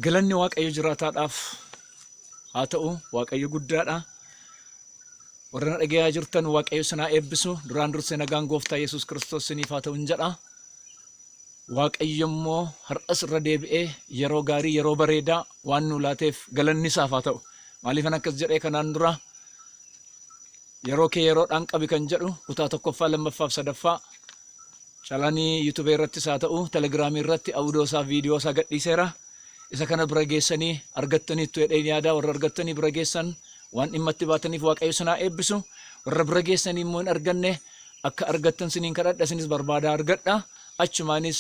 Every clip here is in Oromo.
Galanni Waaqayyo jiraataadhaaf haa ta'u Waaqayyo guddaadha. Warra na dhagayaa jirtan Waaqayyo sinaa eebbisu duraan dursee nagaan gooftaa Yesuus Kiristoos siniif haa ta'u hin jedha. Waaqayyo immoo har'as irra deebi'ee yeroo gaarii yeroo bareedaa waan nu laateef galanni isaaf haa ta'u. Maaliifan akkas jedhee kanaan dura Yeroo kee yeroodhaan qabi kan jedhu kutaa tokkoffaa, lammaffaaf sadaffaa Calanii youtube irrattis haa ta'u telegram irratti audio isaa video isaa gadhiiseera. Isa kana bira geessanii argattaniittu jedheen yaada warra argattanii bira geessan waan dhimma itti baataniif waaqayyo isin haa eebbisu. Warra bira geessanii immoo hin arganne akka argattan siniin kadhadha isinis barbaadaa argadha. Achumaanis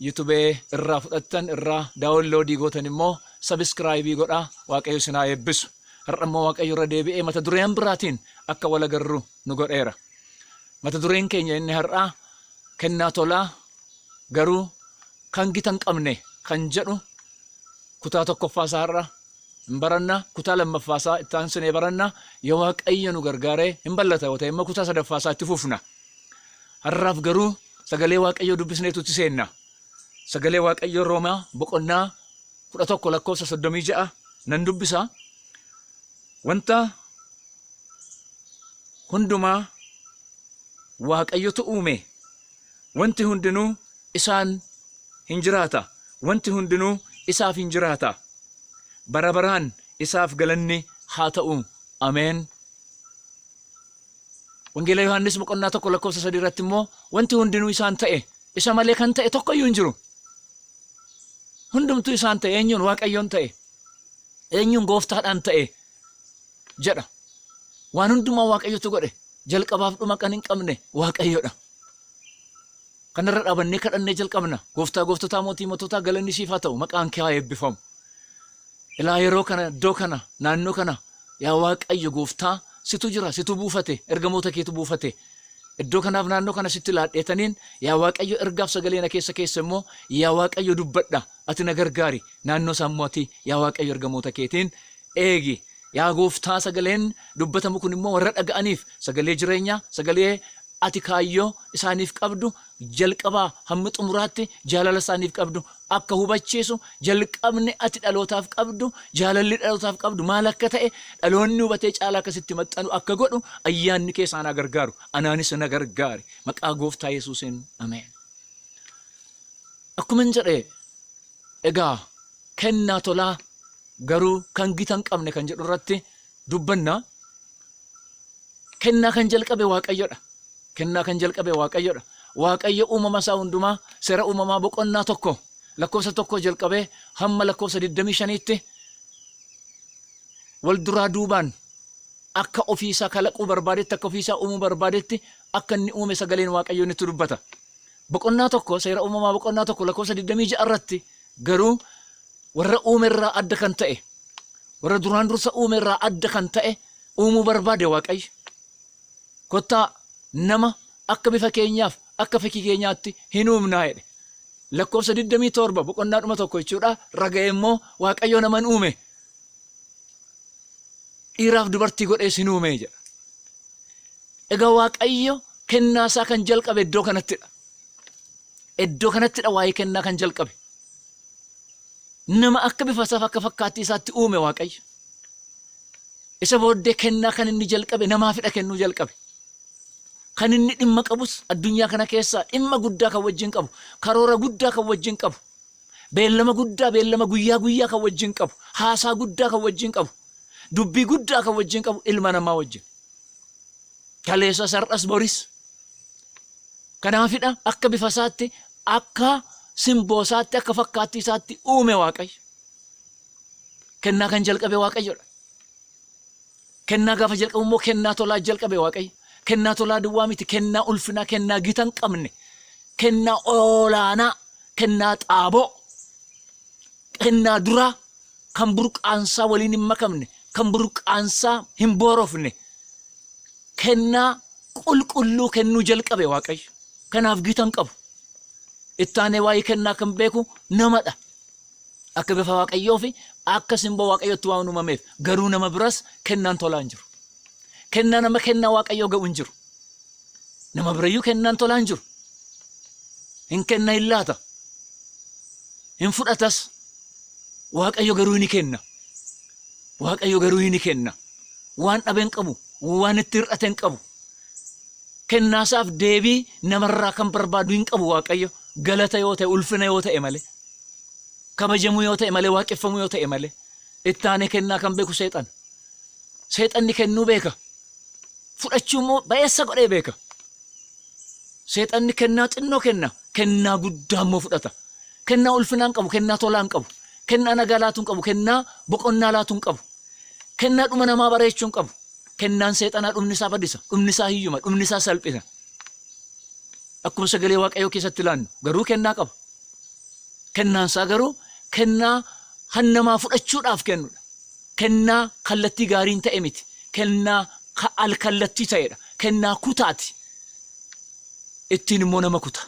youtube irraa fudhattan irraa daawunloodii gootan immoo sabiskiraayibii godha waaqayyo isin haa eebbisu. Har'a immoo Waaqayyo irra deebi'ee mata dureen biraatiin akka wal agarru nu godheera. Mata dureen keenya inni har'aa kennaa tolaa garuu kan gita hin qabne kan jedhu kutaa tokkoffaa isaa har'a hin baranna kutaa lammaffaa isaa itti aansinee baranna yoo waaqayyo nu gargaaree hin ballata yoo ta'e immoo kutaa sadaffaa isaa itti fufna. Har'aaf garuu sagalee waaqayyoo dubbisneetu itti seenna. Sagalee Waaqayyoo Roomaa boqonnaa 11 lakkoofsa 36 nan dubbisa. Wanta hundumaa Waaqayyotu uume. Wanti hundinuu isaan hin jiraata. Wanti hundinuu isaaf hin jiraata. Bara baraan isaaf galanni haa ta'u. Ameen. Wangeela Yohaannis boqonnaa tokko lakkoofsa sadii irratti immoo wanti hundinuu isaan ta'e isa malee kan ta'e tokko iyyuu hin jiru. Hundumtuu isaan ta'e eenyuun waaqayyoon ta'e eenyuun gooftaadhaan ta'e jedha. Waan hundumaa waaqayyotu godhe jalqabaaf dhuma kan hin qabne waaqayyodha. Kanarra dhaabannee kadhannee jalqabna. Gooftaa gooftotaa mootii moototaa galanni siif haa ta'u maqaan kee haa eebbifamu. Ilaa yeroo kana iddoo kana naannoo kana yaa Waaqayyo gooftaa situ jira situ buufate ergamoota keetu buufate iddoo kanaaf naannoo kana sitti laadheetaniin yaa Waaqayyo ergaaf sagalee na keessa keessa immoo yaa Waaqayyo dubbadha ati na gargaari naannoo isaa immoo ati yaa Waaqayyo ergamoota keetiin eegi yaa gooftaa sagaleen dubbatamu kun immoo warra dhaga'aniif sagalee jireenyaa sagalee ati kaayyoo isaaniif qabdu jalqabaa hamma xumuraatti jaalala isaaniif qabdu akka hubachiisu, jalqabni ati dhalootaaf qabdu, jaalalli dhalootaaf qabdu maal akka ta'e dhaloonni hubatee caalaa akka sitti maxxanu akka godhu ayyaanni kee isaan haa gargaaru. Anaanis na gargaari. Maqaa gooftaa Yesuusiin. Ameen. Akkuman jedhe egaa kennaa tolaa garuu kan gita hin qabne kan jedhu irratti dubbanna. Kennaa kan jalqabe Waaqayyodha. Kennaa kan jalqabe Waaqayyodha. Waaqayyo uumama isaa hundumaa seera uumamaa boqonnaa tokko lakkoofsa tokkoo jalqabee hamma lakkoofsa 25tti wal duraa duubaan akka ofii isaa kalaquu barbaadetti akka ofii isaa uumuu barbaadetti akka inni uume sagaleen Waaqayyoo nutti dubbata. Boqonnaa 1 Seera Uumamaa boqonnaa 1 lakkoofsa 26 irratti garuu warra uume irraa adda kan ta'e warra duraan dursa uume irraa adda kan ta'e uumuu barbaade waaqayyo. Kottaa nama akka bifa keenyaaf akka fakkii keenyaatti hin uumnaa jedhe. Lakkoofsa 27 boqonnaa dhuma tokko jechuudha raga'e immoo waaqayyo naman uume Dhiiraaf dubartii godhee sin uumee jedha. Egaa Waaqayyo kennaa isaa kan jalqabe iddoo kanattidha. Iddoo kanattidha waa'ee kennaa kan jalqabe. Nama akka bifa isaaf akka fakkaattii isaatti uume Waaqayyo. Isa booddee kennaa kan inni jalqabe namaafidha kennuu jalqabe. Kan inni dhimma qabus addunyaa kana keessaa dhimma guddaa kan wajjin qabu karoora guddaa kan wajjin qabu Beellama guddaa, beellama guyyaa guyyaa kan wajjin qabu, haasaa guddaa kan wajjin qabu, dubbii guddaa kan wajjin qabu ilma namaa wajjin. Kaleessas har'as boris. Kanaafidha akka bifa isaatti akka simboo isaatti akka fakkaattii isaatti uume Waaqayyo. Kennaa kan jalqabe Waaqayyodha. Kennaa gaafa jalqabu immoo kennaa tolaa jalqabe Waaqayyo. Kennaa tolaa duwwaa miti, kennaa ulfinaa, kennaa gita hin qabne, kennaa olaanaa, kennaa xaaboo, kennaa duraa kan burqaansaa waliin hin makamne, kan burqaansaa hin boorofne, kennaa qulqulluu kennuu jalqabe Waaqayyo. Kanaaf gita hin qabu. Ittaanee waa'ee kennaa kan beeku namadha. Akka bifa Waaqayyoo fi akka simboo Waaqayyootti waan uumameef garuu nama biras kennaan tolaa hin jiru. Kennaan amma kennaa Waaqayyoo ga'u hin jiru. Nama birayyuu kennaan tolaa hin jiru. Hin kenna hin laata. Hin fudhatas. Waaqayyo garuu ni kenna. Waaqayyo garuu ni kenna. Waan dhabe hin qabu. Waan itti hir'ate hin qabu. Kennaasaaf deebii namarraa kan barbaadu hin qabu Waaqayyo. Galata yoo ta'e ulfina yoo ta'e malee. kabajamuu yoo ta'e malee, waaqeffamuu yoo ta'e malee, itti aanee kennaa kan beeku seexana. Seexanni kennuu beeka. Fudhachuu immoo ba'eessa godhee beeka. Seexanni kennaa xinnoo kenna, kennaa guddaa immoo fudhata. Kennaa ulfinaa hin qabu, kennaa tolaa hin qabu. Kennaa nagaa laatu hin qabu, kennaa boqonnaa laatu hin qabu. Kennaa dhuma namaa bareechuu hin qabu. Kennaan seexanaa dhumni isaa badisa, dhumni isaa hiyyuma, dhumni isaa salphina. Akkuma sagalee Waaqayyoo keessatti ilaannu garuu kennaa qaba. Kennaan isaa garuu kennaa kan namaa fudhachuudhaaf kennu dha. Kennaa kallattii gaariin ta'e miti. Kennaa al-kallattii ta'e dha. Kennaa kutaa ti. Ittiin immoo nama kuta.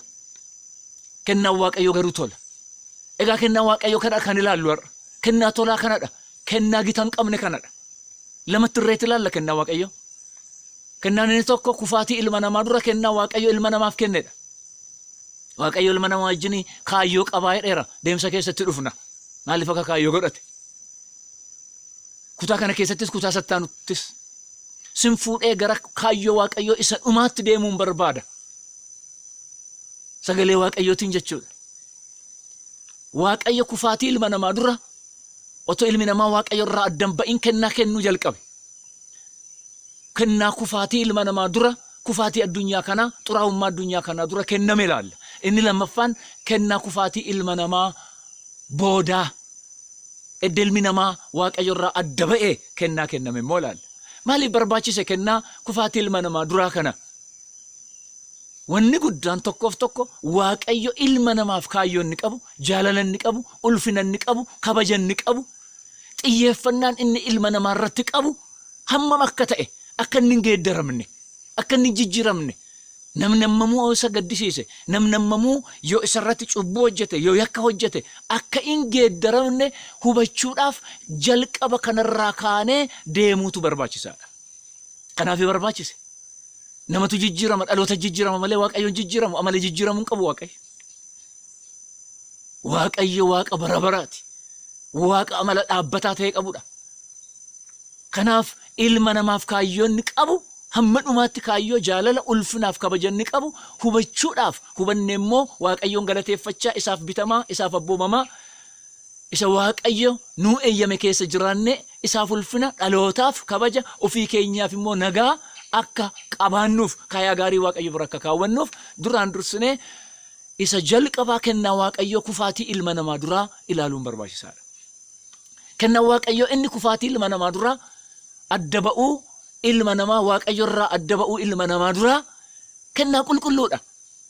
Kennaan Waaqayyoo garuu tola. Egaa kennaa Waaqayyoo kana kan ilaallu har'a. Kennaa tolaa kana dha. Kennaa gita hin qabne kana dha. Lamatti irreetti ilaalla kennaa Waaqayyoo. Kennaan inni tokko kufaatii ilma namaa dura kennaa Waaqayyo ilma namaaf kenne dha. Waaqayyo ilma namaa wajjin kaayyoo qabaa jedheera. Deemsa keessatti dhufna. Maaliif akka kaayyoo godhate? Kutaa kana keessattis kutaa sattaanuttis sin fuudhee gara kaayyoo Waaqayyoo isa dhumaatti deemuun barbaada. Sagalee Waaqayyootiin jechuudha. Waaqayyo kufaatii ilma namaa dura otoo ilmi namaa Waaqayyo irraa addan ba'in kennaa kennuu jalqabe. Kennaa kufaatii ilma namaa dura Kufaatii addunyaa kanaa, xuraa'ummaa addunyaa kanaa dura kenname ilaalla. Inni lammaffaan kennaa kufaatii ilma namaa boodaa, edda ilmi namaa Waaqayyo irraa adda ba'e kennaa kenname immoo ilaalla. Maaliif barbaachise kennaa kufaatii ilma namaa duraa kana? Wanni guddaan tokkoof tokko Waaqayyo ilma namaaf kaayyoo inni qabu, jaalala inni qabu, ulfina inni qabu, kabaja inni qabu xiyyeeffannaan inni ilma namaa irratti qabu hammam akka ta'e, akka inni hin geeddaramne, akka inni hin jijjiiramne, namni hammamuu yoo isa gaddisiise, namni hammamuu yoo isa irratti cubbuu hojjete, yoo yakka hojjete, akka hin geeddaramne hubachuudhaaf jalqaba kanarraa kaanee deemuutu barbaachisaadha. Kanaaf barbaachise. Namatu jijjiirama, dhaloota jijjiirama malee Waaqayyoon jijjiiramu, amala jijjiiramuu hin qabu Waaqayyo. keessatti Waaqayyo Waaqa bara baraati. Waaqa amala dhaabbataa ta'e qabudha. Kanaaf ilma namaaf kaayyoo inni qabu hamma dhumaatti kaayyoo jaalala ulfinaaf kabaja inni qabu hubachuudhaaf hubanne immoo Waaqayyoon galateeffachaa isaaf bitamaa isaaf abboomamaa isa Waaqayyo nuu eeyyame keessa jiraanne isaaf ulfina dhalootaaf kabaja ofii keenyaaf immoo nagaa akka qabaannuuf kaayaa gaarii Waaqayyo bira akka kaawwannuuf duraan dursinee isa jalqabaa kennaa Waaqayyoo kufaatii ilma namaa duraa ilaaluun barbaachisaadha. Kennaan Waaqayyoo inni kufaatii ilma namaa duraa adda ba'uu ilma namaa Waaqayyo irraa adda ba'uu ilma namaa duraa kennaa qulqulluudha.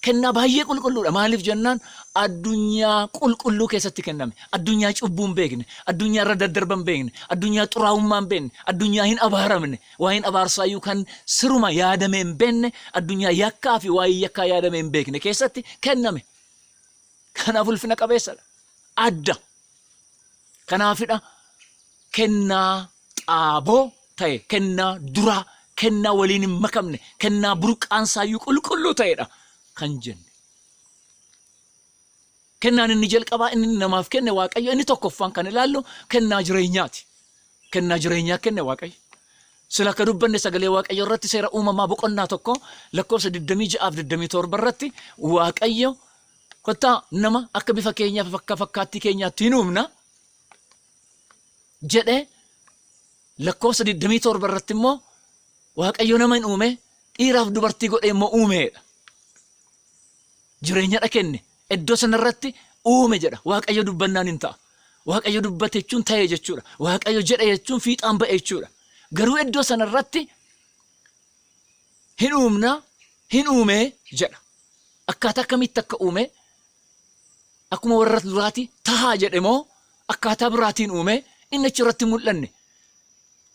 Kennaa baay'ee qulqulluudha. Maaliif jennaan addunyaa qulqulluu keessatti kenname. Addunyaa cubbuu hin beekne, addunyaa irra daddarba hin beekne, addunyaa xuraa'ummaa hin beekne, addunyaa hin abaaramne, Waa'een abaarsaayyuu kan siruma yaadamee hin beekne, addunyaa yakkaa fi waa'ee yakkaa yaadamee hin beekne keessatti kenname. Kanaaf ulfina qabeessa dha. Adda. Kanaafidha kennaa xaaboo ta'e, kennaa duraa, kennaa waliin hin makamne, kennaa burqaansaayyuu qulqulluu ta'edha kan jenne. Kennaan inni jalqabaa inni namaaf kenne Waaqayyo inni tokkoffaan kan ilaallu kennaa jireenyaati. Kennaa jireenyaa kenne Waaqayyo. Sila akka dubbanne sagalee Waaqayyo irratti seera uumamaa boqonnaa tokko lakkoofsa 26 fi 27 irratti Waaqayyo kottaa nama akka bifa keenyaa fi akka fakkaattii keenyaatti hin uumna jedhee lakkoofsa 27 irratti immoo Waaqayyo nama hin uume dhiiraaf dubartii godhee immoo uumeedha. jireenyadha kenne, iddoo sana irratti uume jedha. Waaqayyo dubbannaan hin ta'a. Waaqayyo dubbate jechuun ta'e jechuudha. Waaqayyo jedhe jechuun fiixaan ba'e jechuudha. Garuu iddoo sana irratti hin uumna, hin uumee jedha. Akkaataa akkamitti akka uume akkuma warra duraati tahaa jedhe moo akkaataa biraatiin uume inni achi irratti hin mul'anne.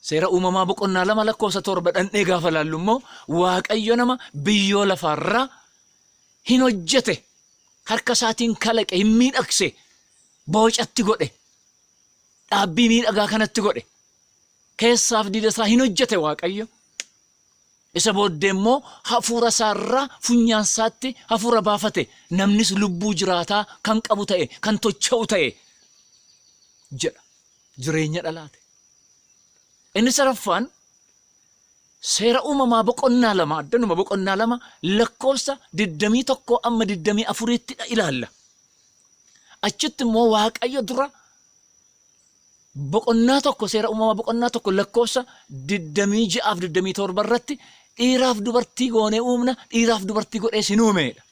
Seera uumamaa boqonnaa lama lakkoofsa torba dhandhee gaafa laallu immoo Waaqayyo nama biyyoo lafaarraa hin hojjete harka isaatiin kalaqe hin miidhagse boocatti godhe dhaabbii miidhagaa kanatti godhe keessaaf diida isaa hin hojjete Waaqayyo. Isa booddee immoo hafuura isaa irraa funyaan isaatti hafuura baafate, namnis lubbuu jiraataa kan qabu ta'e, kan tocha'u ta'e jedha. Jireenya dhalaate. Inni sadaffaan seera uumamaa boqonnaa lama, addanuma boqonnaa lama lakkoofsa 21 amma 24 tti ilaalla. Achitti immoo Waaqayyo dura Boqonnaa 1 Seera Uumamaa boqonnaa 1 lakkoofsa 26 fi 27 irratti dhiiraaf dubartii goonee uumna, dhiiraaf dubartii godhees hin uume jedha.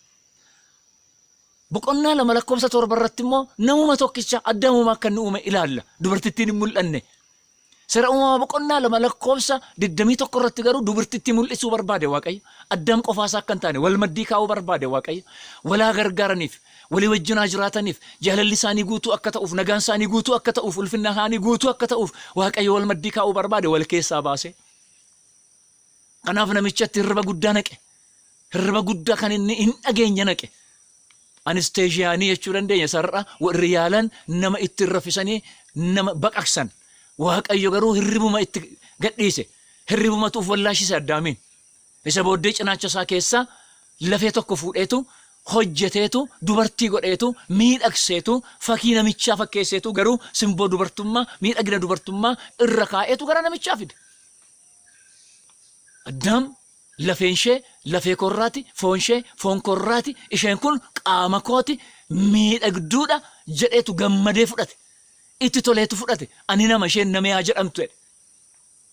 Boqonnaa 2 lakkoofsa 7 irratti immoo namuma tokkicha addamuuma akka inni uume ilaalla. Dubartittiin hin mul'anne. Seera Uumamaa boqonnaa 2 lakkoofsa 21 irratti garuu dubartitti mul'isuu barbaade Waaqayyo. Addaam qofaasaa akka hin taane wal maddii kaa'uu barbaade Waaqayyo. Walaa gargaaraniif walii wajjin haa jiraataniif, jaalalli isaanii guutuu akka ta'uuf, nagaan isaanii guutuu akka ta'uuf, ulfinna isaanii guutuu akka ta'uuf Waaqayyo wal maddii kaa'uu barbaade wal keessaa baasee. Kanaaf namichatti hirriba guddaa naqe. Hirriba guddaa kan inni hin dhageenye naqe. Anesteeshiyaanii jechuu dandeenya sarara warri yaalan nama ittiin raffisanii nama baqaqsan. Waaqayyo garuu hirribuma itti gadhiise. Hirribumatu of wallaashise Addaamiin. Isa booddee cinaacha isaa keessaa lafee tokko fuudheetu hojjeteetu dubartii godheetu miidhagseetu fakii namichaa fakkeesseetu garuu simboo dubartummaa miidhagina dubartummaa irra kaa'eetu gara namichaa fide. Addaam lafeen ishee lafee koo irraati, foon ishee foon koo irraati, isheen kun qaama kooti miidhagduudha jedheetu gammadee fudhate. Itti toleetu fudhate. Ani nama isheen namee haa jedhamtu jedhe.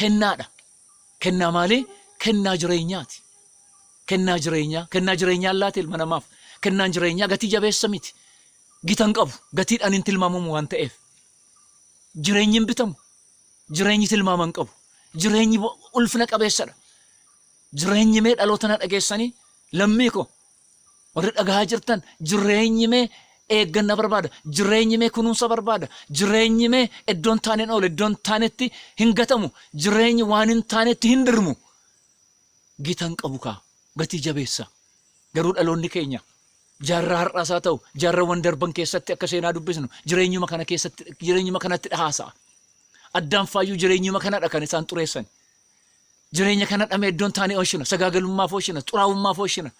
kennaadha. Kennaa maalii? Kennaa jireenyaati. Kennaa jireenyaa, kennaa jireenyaan laate ilma namaaf. Kennaan jireenyaa gatii jabeessa miti. Gita hin qabu. Gatiidhaan hin tilmaamamu waan ta'eef. Jireenyi hin bitamu. Jireenyi tilmaama hin qabu. Jireenyi ulfina qabeessadha. Jireenyi mee dhaloota na dhageessanii lammii koo Warri dhagahaa jirtan jireenyi mee eegganna barbaada, jireenyi mee kunuunsa barbaada, jireenyi mee iddoo hin taaneen oole, iddoo hin taanetti hin gatamu, jireenyi waan hin taanetti hin dirmu. Gita hin qabu kaa, gatii jabeessa. Garuu dhaloonni keenya jaarraa har'aas haa ta'u jaarrawwan darban keessatti akka seenaa dubbisnu jireenyuma kana keessatti jireenyuma kanatti dhahaasa'a. Addaanfaayyuu jireenyuma kanadha kan isaan xureessani. Jireenya kana dhamee iddoon taanee oshina, sagaagalummaaf oshina, xuraa'ummaaf oshina,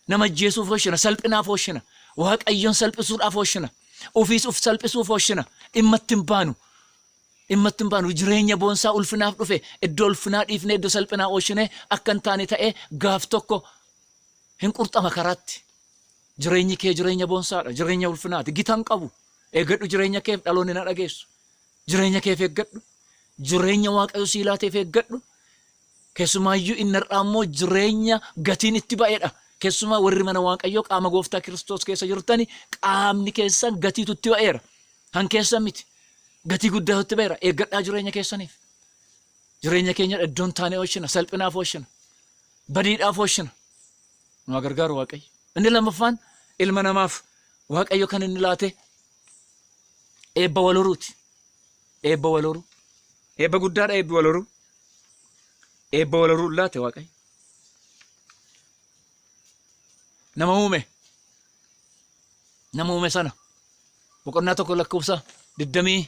nama ajjeesuuf oshina, salphinaaf oshina, Waaqayyoon salphisuudhaaf oshina, ofiis of salphisuuf oshina, dhimma itti hin baanu. Dhimma itti hin baanu. Jireenya boonsaa ulfinaaf dhufe iddoo ulfinaa dhiifnee iddoo salphinaa oshinee akka hin taane ta'ee gaaf tokko hin qurxama karaatti. Jireenyi kee jireenya boonsaadha, jireenya ulfinaati, gita hin qabu. Eegadhu jireenya keef dhaloonni na dhageessu. Jireenya keef eeggadhu. Jireenya Waaqayyo sii laateef eeggadhu. Keessumaayyuu inni har'aa immoo jireenya gatiin itti ba'edha. Keessumaa warri mana Waaqayyoo qaama gooftaa Kiristoos keessa jirtani qaamni keessan gatiitu itti ba'eera. Kan keessan miti. Gatii guddaatu itti ba'eera. Eeggadhaa jireenya keessaniif. Jireenya keenya iddoon taanee oolchina. Salphinaaf oolchina. Badiidhaaf oolchina. Nu haa gargaaru Waaqayyo. Inni lammaffaan ilma namaaf Waaqayyo kan inni laate Eebba wal horuuti. Eebba wal horuu. Eebba guddaadha eebbi wal horuu. Eebba wal horuu laate waaqayyo. Nama uume. Nama uume sana. Boqonnaa tokko lakkoofsa digdamii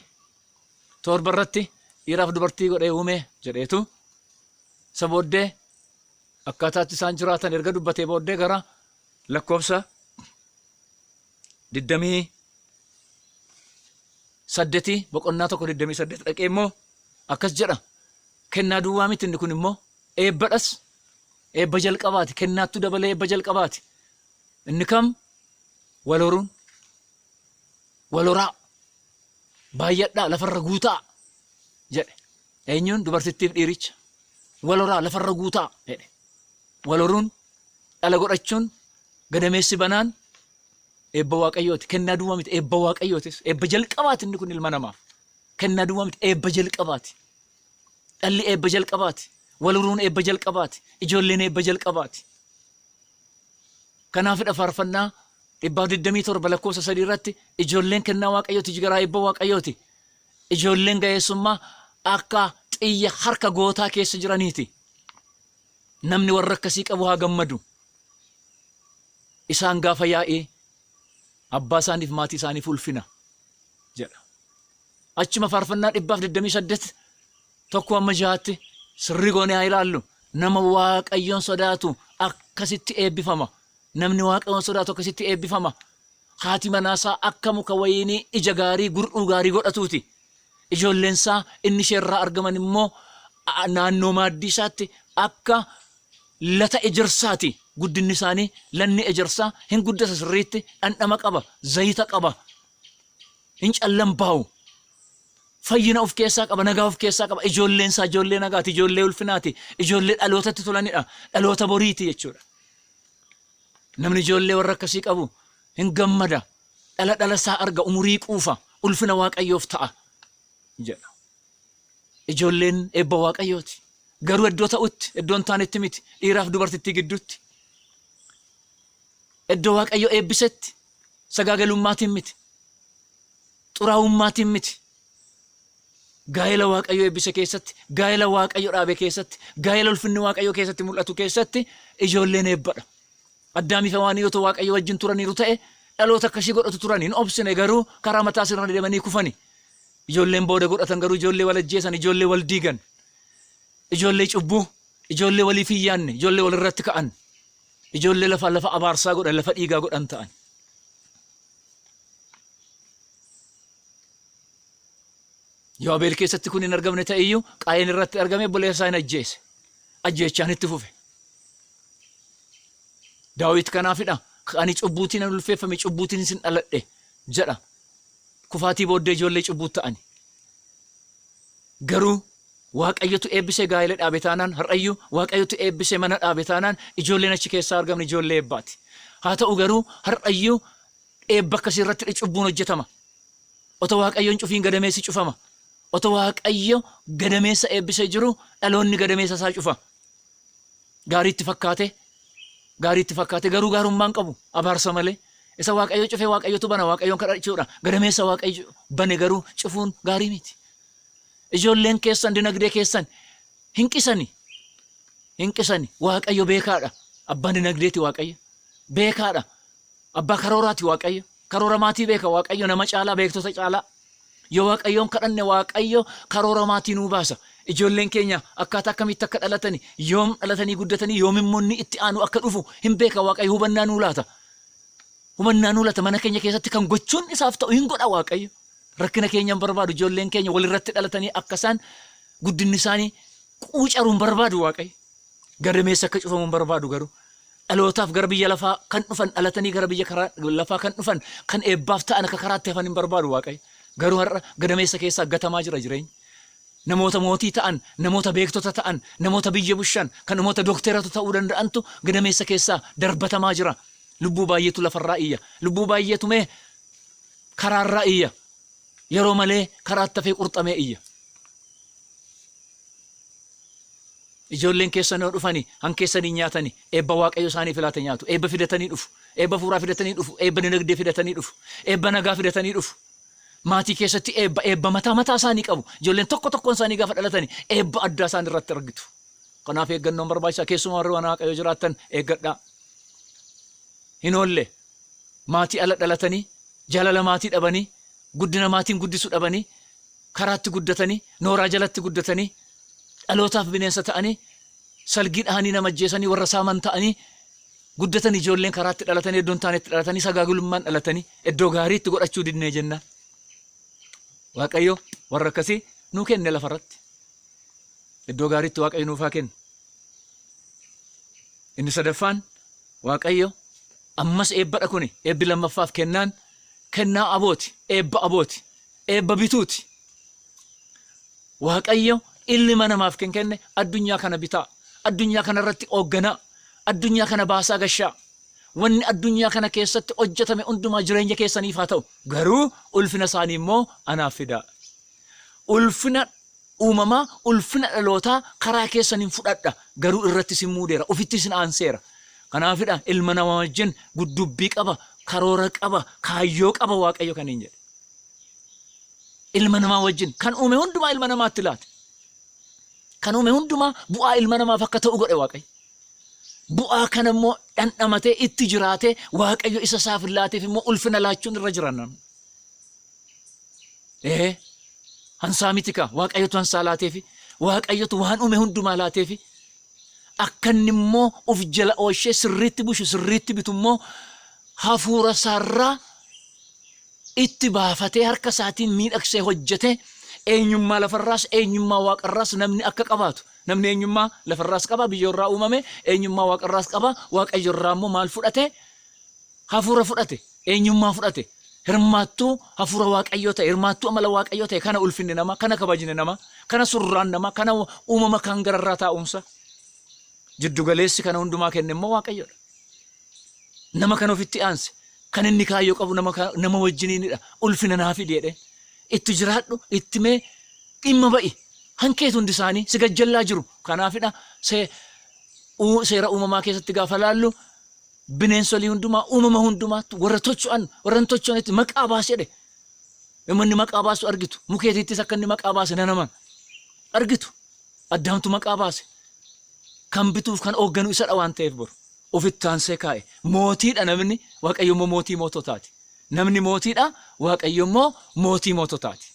torba irratti dhiiraaf dubartii godhee uume jedheetu isa booddee akkaataatti isaan jiraatan erga dubbatee booddee gara lakkoofsa 28 boqonnaa 1 28 dhaqee immoo akkas jedha kennaa duwwaa miti inni kun immoo eebbadhas eebba jalqabaati kennaattu dabalee eebba jalqabaati inni kam wal horuun wal horaa baay'adhaa lafarra guutaa jedhe Eenyuun dubartittiif dhiiricha? Wal horaa lafarra guutaa! jedhe. Wal horuun, dhala godhachuun, gadameessi banaan eebba Waaqayyooti. Kennaa duwwaa miti, eebba Waaqayyootis. Eebba jalqabaati inni kun ilma namaaf. Kennaa duwwaa miti, eebba jalqabaati. Dhalli eebba jalqabaati. Wal horuun eebba jalqabaati. Ijoolleen eebba jalqabaati. Kanaafidha faarfannaa dhibbaaf 27 lakkoofsa 3 irratti ijoolleen kennaa Waaqayyooti jigaraa eebba Waaqayyooti. Ijoolleen ga'eessummaa akka xiyya harka gootaa keessa jiraniiti. Namni warra akkasii qabu haa gammadu. Isaan gaafa yaa'ii abbaa isaaniif maatii isaaniif ulfina jedha. Achuma faarfannaa dhibbaaf 28 tokko amma jahaatti sirrii goonee haa ilaallu. Nama Waaqayyoon sodaatu akkasitti eebbifama. Namni Waaqayyoon sodaatu akkasitti eebbifama. Haati manaasaa akka muka wayiinii ija gaarii gur'uu gaarii godhatuuti. Ijoolleensaa inni isheerraa argaman immoo naannoo maaddiisaatti akka lata ejersaati. Guddinnisaanii lanni ejersaa hin guddata sirriitti, dhandhama qaba, zayita qaba, hin callambaa'u. Fayyina of keessaa qaba, nagaa of keessaa qaba. Ijoolleensaa ijoollee nagaati, ijoollee ulfinaati, ijoollee dhalootatti tolanidha, dhaloota boriiti jechuudha. Namni ijoollee warra akkasii qabu hin gammada, dhala dhala isaa arga, umurii quufa, ulfina Waaqayyoof ta'a jedha. Ijoolleen eebba Waaqayyooti. Garuu iddoo ta'utti, iddoo hin taanetti miti. Dhiiraaf dubartittii gidduutti. Iddoo Waaqayyo eebbisetti sagaagelummaatiin miti. Xuraa'ummaatiin miti. Gaa'ela Waaqayyo eebbise keessatti, gaa'ela Waaqayyo dhaabe keessatti, gaa'ela ulfinni Waaqayyo keessatti mul'atu keessatti ijoolleen eebbadha. Addaamii fi Hewaan yoo Waaqayyo wajjin turaniiru ta'e dhaloota akka ishii godhatu turan hin obsine garuu karaa mataa sirna deemanii kufani. Ijoolleen booda godhatan garuu ijoollee wal ajjeesan, ijoollee wal diigan, ijoollee cubbuu, ijoollee waliif hin yaanne, ijoollee wal irratti ka'an. Ijoollee lafaa lafa abaarsaa godhan, lafa dhiigaa godhan ta'an. Yoo Abeel keessatti kun hin argamne ta'e iyyuu Qaayeen irratti argame obboleessa isaa hin ajjeese. Ajjeechaan itti fufe. Daawit kanaafidha. Ani cubbuutiin an ulfeeffame cubbuutiin sin dhaladhe jedha. Kufaatii booddee ijoollee cubbuu ta'ani. Garuu Waaqayyotu eebbisee gaa'ela dhaabe taanaan, har'ayyuu Waaqayyotu eebbisee mana dhaabe taanaan ijoolleen achi keessaa argamne ijoollee eebbaati. Haa ta'u garuu har'ayyuu eebba akkasii irratti cubbuun hojjetama. Otoo Waaqayyoon cufiin gadameessi cufama. Otoo Waaqayyo gadameessa eebbisee jiru dhaloonni gadameessa isaa cufa. Gaarii itti fakkaate gaarii itti fakkaate garuu gaarummaa hin qabu abaarsa malee. Isa Waaqayyo cufee Waaqayyotu bana Waaqayyoon kadhachuudha. Gadameessa Waaqayyo bane garuu cufuun gaarii miti. Ijoolleen keessan dinagdee keessan hin qisani. Hin qisani. Waaqayyo beekaadha. Abbaan dinagdeeti Waaqayyo. Beekaadha. Abbaa karooraati Waaqayyo. Karoora maatii beeka Waaqayyo nama caalaa beektota caalaa. Yoo Waaqayyoon kadhanne Waaqayyo karoora maatii nuu baasa. Ijoolleen keenya akkaataa akkamitti akka dhalatani, yoom dhalatanii guddatanii, yoom immoo inni itti aanu akka dhufu hin beeka Waaqayyo hubannaa nuu laata. Hubannaa nuu laata mana keenya keessatti kan gochuun isaaf ta'u hin godha Waaqayyo. Rakkina keenya hin barbaadu. Ijoolleen keenya walirratti dhalatanii akka isaan guddinni isaanii quucaru hin barbaadu Waaqayyo. Gadameessa akka cufamu hin barbaadu garuu. Dhalootaaf gara biyya lafaa kan dhufan dhalatanii gara biyya karaa lafaa kan dhufan kan eebbaaf ta'an akka karaatti hafan hin barbaadu Waaqayyo. Garuu har'a gadameessa keessaa gatamaa jira jireenyi. Namoota mootii ta'an, namoota beektota ta'an, namoota biyya bushan, kan namoota dokteeratu ta'uu danda'antu gadameessa keessaa darbatamaa jira. Lubbuu baay'eetu lafarraa iyya. Lubbuu baay'eetu mee Karaa irraa iyya. Yeroo malee karaa attafee qurxamee iyya. Ijoolleen keessan yoo dhufani han keessanii nyaatani eebba Waaqayyo isaaniif laate nyaatu. Eebba fidatanii dhufu. Eebba fuuraa fidatanii dhufu. Eebba dinagdee fidatanii dhufu. Eebba nagaa fidatanii dhufu. Maatii keessatti eebba eebba mataa mataa isaanii qabu. Ijoolleen tokko tokkoon isaanii gaafa dhalatani eebba addaa isaan irratti argitu. Kanaaf eeggannoon barbaachisaa keessumaa warri waan Waaqayyo jiraattan eeggadhaa. Hin oolle maatii ala dhalatanii, jaalala maatii dhabanii, guddina maatiin guddisu dhabanii, karaatti guddatanii, nooraa jalatti guddatanii, dhalootaaf bineensa ta'anii, salgii dhahanii nama ajjeesanii, warra saaman ta'anii guddatan ijoolleen karaatti dhalatanii, iddoo hin taanetti dhalatanii, sagaagulummaan dhalatanii, iddoo gaarii itti godhachuu didnee jennaan. Waaqayyo warra akkasii nuu kenne lafarratti. Iddoo gaariitti Waaqayyo nuuf haa kennu. Inni sadaffaan Waaqayyo, Ammas eebbadha kuni, eebbi lammaffaaf kennaan, kennaa abooti, eebba abooti, eebba bituuti. Waaqayyo illima namaaf kan kenne addunyaa kana bitaa, addunyaa kana irratti oogganaa, addunyaa kana baasaa gashaa, wanni addunyaa kana keessatti hojjetame hundumaa jireenya keessaniif haa ta'u, garuu ulfina isaanii immoo anaaf fidaa. Ulfina uumamaa, ulfina dhalootaa karaa keessaniin fudhadha, garuu irratti isin muudeera, ofitti isin aanseera. Kanaafidha ilma namaa wajjin guddubbii qaba, karoora qaba, kaayyoo qaba Waaqayyo kaniin jedhe. Ilma namaa wajjin kan uume hundumaa ilma namaatti laate. Kan uume hundumaa bu'aa ilma namaaf akka ta'u godhe Waaqayyo. Bu'aa kana immoo dhandhamatee itti jiraatee Waaqayyo isa isaaf laateef immoo ulfina laachuun irra jira namni. Ee, hansaa miti kaa. Waaqayyotu hansaa laateefi. Waaqayyotu waan uume hundumaa laateefi. Akka inni immoo of jala oolchee sirriitti bushu, sirriitti bitu immoo hafuura isaarraa itti baafatee harka isaatiin miidhagsee hojjetee eenyummaa lafarraas eenyummaa waaqarraas namni akka qabaatu. Namni eenyummaa lafarraas qaba, biyyoorraa uumame, eenyummaa waaqarraas qaba, waaqayyorraa immoo maal fudhate? Hafuura fudhate, eenyummaa fudhate, hirmaattuu Hafuura Waaqayyoo ta'e, hirmaattuu amala Waaqayyoo ta'e, kana ulfinni namaa, kana kabajni namaa, kana surraan namaa, kana uumama kaan gararraa taa'uunsaa. Jiddu galeessi kana hundumaa kenne immoo Waaqayyodha. Nama kan ofitti aanse, kan inni kaayyoo qabu nama, ka- nama wajjiniinidha. Ulfina naa fidi jedheen. Itti jiraadhu, itti mee dhimma ba'i. Hankeetu hundi isaanii si gajjallaa jiru. Kanaafidha see, uu- seera uumamaa keessatti gaafa laallu Bineensolii hundumaa, uumama hundumaattu, warra tocho'an, warra hin tocho'anetti maqaa baasi jedhe. Yommuu inni maqaa baasu argitu. Mukeetiittis akka inni maqaa baase nan amana. Argitu. Addaamtu maqaa baase. Kan bituuf kan hoogganu isadha waan ta'eef boru. Ofitti aansee kaa'e. Mootiidha namni, Waaqayyo immoo mootii moototaati. Namni mootiidha, Waaqayyo immoo mootii moototaati.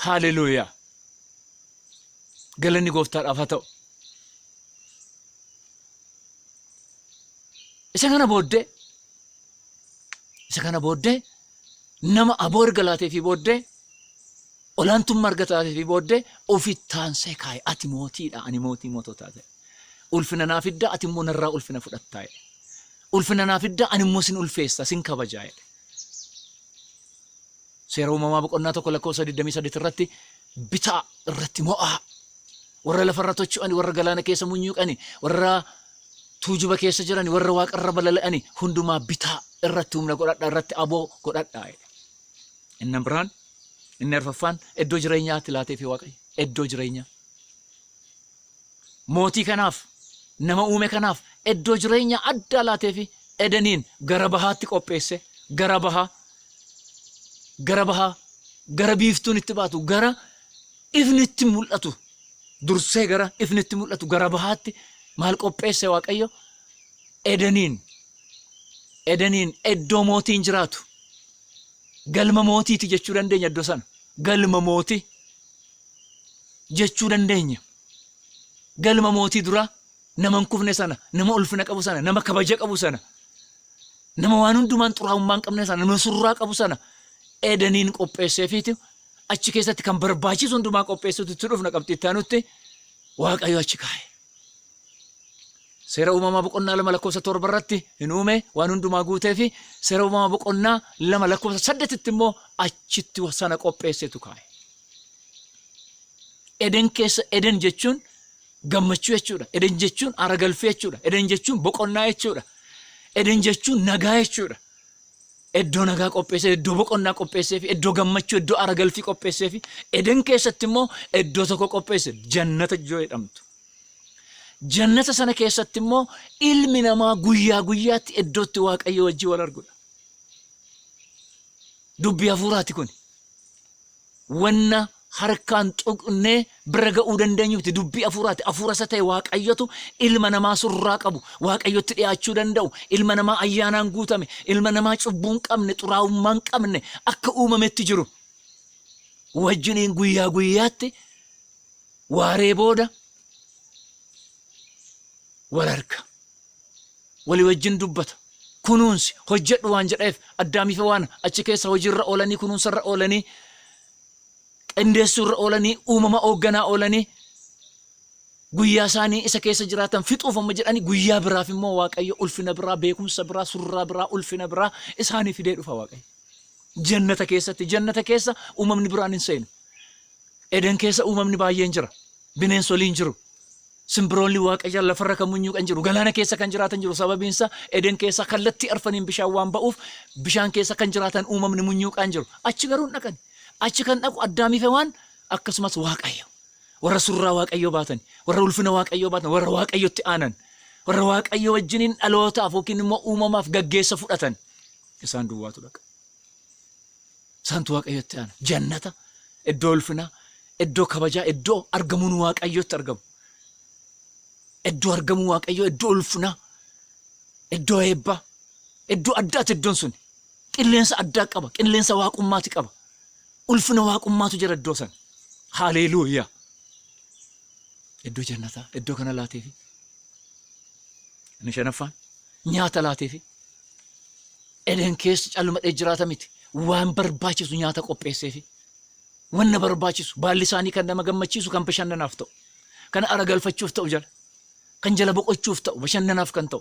Haaleluuyaa! Galanni gooftaadhaaf haa ta'u. Isa kana booddee isa kana booddee nama aboo erga laateefii booddee olaantummaa erga taateefii booddee ofitti taansee kaa'e ati mootiidha ani mootii moototaa ta'e ulfina naa fidda ati immoo narraa ulfina fudhattaa jedhe ulfina naa fidda ani immoo sin ulfeessa sin kabajaa jedhe seera uumamaa boqonnaa tokko lakkoofsa 28 irratti bitaa irratti mo'aa Warra lafa irra tocho'ani, warra galaana keessa munyuuqani, warra tuujuba keessa jirani, warra waaqa irra balali'ani hundumaa bitaa irratti humna godhadha, irratti aboo godhadha jedhe. Inni biraan, inni arfaffaan iddoo jireenyaatti laateefi Waaqayyo. Iddoo jireenyaa. Mootii kanaaf, nama uume kanaaf iddoo jireenyaa addaa laateefi Edeniin gara bahaatti qopheesse. Gara bahaa, gara bahaa, gara biiftuun itti baatu, gara ifni itti mul'atu dursee gara ifni itti mul'atu gara bahaatti maal qopheesse Waaqayyo? Edeniin. Edeniin iddoo mootiin jiraatu. Galma mootiiti jechuu dandeenya iddoo sana. Galma mootii jechuu dandeenya. Galma mootii duraa nama hin kufne sana, nama ulfina qabu sana, nama kabaja qabu sana, nama waan hundumaan xuraa'ummaa hin qabne sana, nama surraa qabu sana Edeniin qopheesseefiitu achi keessatti kan barbaachisu hundumaa qopheessuutti itti dhufna qabxii itti aanutti waaqayyo achi kaa'e. Seera uumamaa boqonnaa lama lakkoofsa torba irratti hin uume waan hundumaa guutee fi seera uumamaa boqonnaa lama lakkoofsa saddetitti immoo achitti sana qopheessetu kaa'e. Eden keessa Eden jechuun gammachuu jechuudha. Eden jechuun aara galfii jechuudha. Eden jechuun boqonnaa jechuudha. Eden jechuun nagaa jechuudha. Iddoo nagaa qopheessee, iddoo boqonnaa qopheesseefi, iddoo gammachuu, iddoo aara galfii qopheesseefi, Eden keessatti immoo iddoo tokko qopheesse, jannata iddoo jedhamtu. Jannata sana keessatti immoo ilmi namaa guyyaa guyyaatti iddoo itti Waaqayyoo wajjin wal arguudha. Dubbii hafuuraati kuni. wanna harkaan tuqnee bira ga'uu dandeenyu miti. Dubbii hafuuraati. Hafuura isa ta'e Waaqayyotu ilma namaa surraa qabu, Waaqayyotti dhiyaachuu danda'u, ilma namaa ayyaanaan guutame, ilma namaa cubbuu hin qabne, xuraa'ummaa hin qabne akka uumametti jiru. Wajjiniin guyyaa guyyaatti waaree booda wal arga. walii wajjin dubbata. Kunuunsi, hojjedhu waan jedhaeef Addaamii fi Hewaan achi keessa hojii irra oolanii, kunuunsa irra oolanii, qindeessuu irra oolanii, uumama oogganaa oolanii, guyyaa isaanii isa keessa jiraatan fixuuf amma jedhanii guyyaa biraaf immoo Waaqayyo ulfina biraa, beekumsa biraa, surraa biraa, ulfina biraa isaanii fidee dhufa Waaqayyo. Jannata keessatti, jannata keessa uumamni biraan hin seenu. Eden keessa uumamni baay'een jira. Bineensoliin jiru. Simbiroonni Waaqayyaa lafarra kan munyuuqan jiru, galaana keessa kan jiraatan jiru, sababiin isaa Eden keessaa kallattii arfaniin bishaan waan ba'uuf bishaan keessa kan jiraatan uumamni munyuuqaan jiru. Achi garuu hin dhaqani. Achi kan dhaqu Addaamii fi Hewaan akkasumas Waaqayyo. Warra surraa Waaqayyoo baatan, warra ulfina Waaqayyoo baatan, warra Waaqayyotti aanan, warra Waaqayyo wajjiniin dhalootaaf yookiin immoo uumamaaf gaggeessa fudhatan isaan duwwaatu dhaqa. Isaantu Waaqayyotti aana. Jannata, iddoo ulfinaa, iddoo kabajaa, iddoo argamuun Waaqayyootti argamu. Iddoo argamuu Waaqayyoo, iddoo ulfinaa, iddoo eebbaa, iddoo addaati iddoon sun. Qilleensa addaa qaba, qilleensa waaqummaati qaba. Ulfina waaqummaatu jira iddoo sana. Haaleeluuyaa! Iddoo jannataa, iddoo kana laateefi. Inni shanaffaan nyaata laateefi. Eden keessa calmadhee jiraata miti. Waan barbaachisu nyaata qopheesseefi. Wanna barbaachisu baalli isaanii kan nama gammachiisu kan bashannanaaf ta'u. Kan ara galfachuuf ta'u jala. Kan jala boqochuuf ta'u bashannanaaf kan ta'u.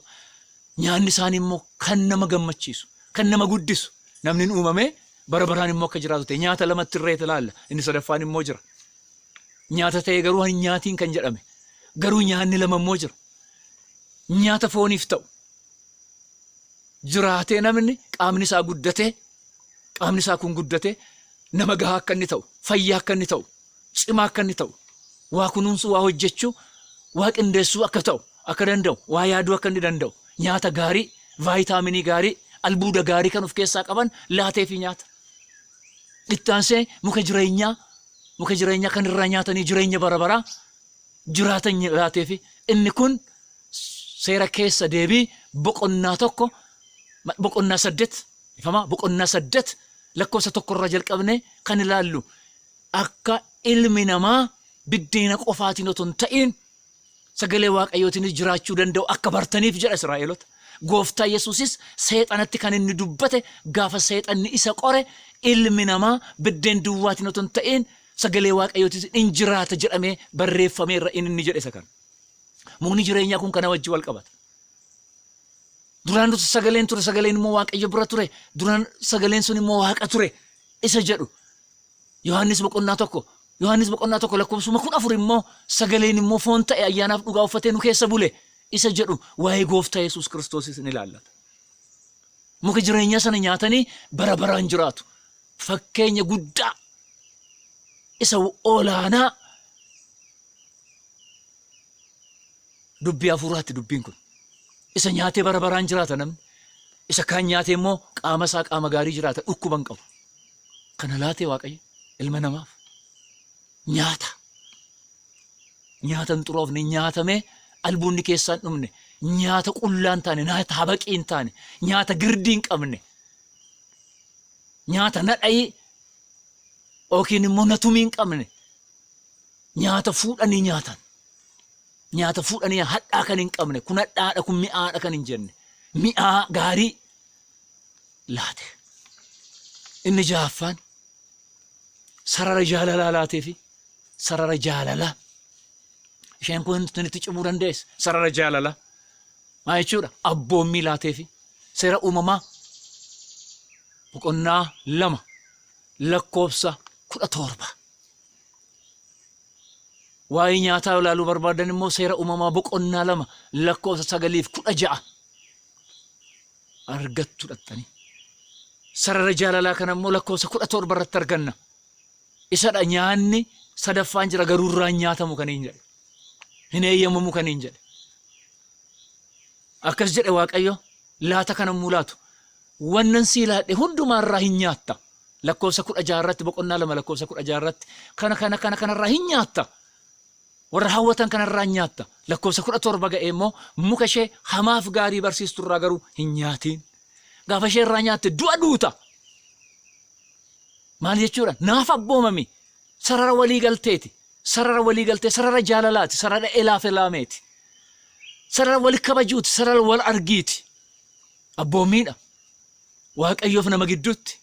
Nyaanni isaanii immoo kan nama gammachiisu. Kan nama guddisu. Namni hin uumamee bara baraan immoo akka jiraatu ta'e. Nyaata lamatti irreeti ilaalla. Inni sadaffaan immoo jira. Nyaata ta'ee garuu hin nyaatiin kan jedhame. Garuu nyaanni lama immoo jira. Nyaata fooniif ta'u. jiraatee namni qaamni isaa guddatee qaamni isaa kun guddatee nama gahaa akka inni ta'u, fayyaa akka inni ta'u, cimaa akka inni ta'u, waa kunuunsuu, waa hojjechuu, waa qindeessuu akka ta'u akka danda'u, waa yaaduu akka inni danda'u, nyaata gaarii, vaayitaaminii gaarii, albuuda gaarii kan of keessaa qaban laateefii nyaata. Ittaansee muka jireenyaa muka jireenyaa kan irraa nyaatanii jireenya bara baraa jiraatan jiraatee fi inni kun seera keessa deebii boqonnaa tokko boqonnaa saddet ifamaa boqonnaa saddet lakkoofsa tokkorraa jalqabne kan ilaallu akka ilmi namaa biddeena qofaatiin otoo hin ta'iin sagalee waaqayyootiinis jiraachuu danda'u akka bartaniif jedha Israa'eelota. Gooftaa Yesuusis seexanatti kan inni dubbate gaafa seexanni isa qore ilmi namaa biddeen duwwaatiin otoo hin ta'iin Sagalee Waaqayyootis in jiraata jedhamee barreeffameerra in inni jedhe isa kana. Mukni jireenyaa kun kana wajjin wal qabata. Duraan dursa sagaleen ture, sagaleen immoo Waaqayyo bira ture, duraan sagaleen sun immoo Waaqa ture isa jedhu. Yohaannis boqonnaa tokko, Yohaannis boqonnaa tokko lakkoofsuma kudha afur immoo sagaleen immoo foon ta'e ayyaanaaf dhugaa uffatee nu keessa bule isa jedhu waa'ee gooftaa Yesuus Kiristoosis ni ilaallata. Muka jireenyaa sana nyaatanii bara baraan jiraatu. Fakkeenya guddaa isa olaanaa dubbii hafuuraatti dubbiin kun. Isa nyaatee bara baraan jiraata namni. Isa kaan nyaatee immoo qaama isaa qaama gaarii jiraata dhukkuba hin qabu. Kana laatee waaqayyo ilma namaaf nyaata. Nyaata hin xuroofne nyaatamee albuunni keessaa hin dhumne, nyaata qullaa hin taane, nyaata habaqii hin taane, nyaata girdii hin qabne, nyaata nadhayii yookiin immoo natumii hin qabne, nyaata fuudhanii nyaatan, nyaata fuudhanii hadhaa kan hin qabne, kun hadhaadha, kun mi'aadha kan hin jenne, mi'aa gaarii laate. Inni ja'affaan sarara jaalalaa laateefi sarara jaalalaa isheen kun itti cimuu dandeesse sarara jaalalaa maa jechuudha abboommii laateefi seera uumamaa boqonnaa lama lakkoofsa kudha torba. Waa'ee nyaataa ilaaluu barbaadan immoo seera uumamaa boqonnaa lama lakkoofsa sagaliif kudha ja'a. argattu dhaxxanii. Sarara jaalalaa kana immoo lakkoofsa kudha torba irratti arganna. Isadha nyaanni sadaffaan jira garuu irraa hin nyaatamu kan hin jedhe. Hin eeyyamamu kan hin jedhe. Akkas jedhe Waaqayyo laata kana immoo laatu. Wannan sii laadhe hundumaa irraa hin nyaatta. Lakkoofsa kudha jaha irratti boqonnaa lama lakkoofsa kudha jaha irratti kana kana kana kana irraa hin nyaatta. Warra hawwatan kana irraa in nyaatta. Lakkoofsa 17 ga'ee immoo muka ishee hamaaf gaarii barsiistu irraa garuu hin nyaatiin. Gaafa ishee irraa nyaatte du'a duuta. Maal jechuudha? Naaf abboomami. Sarara walii galteeti. Sarara walii galtee, sarara jaalalaati, sarara elaaf elaameeti. Sarara wal kabajuuti, sarara wal argiiti. Abboomiidha. Waaqayyoof nama gidduutti.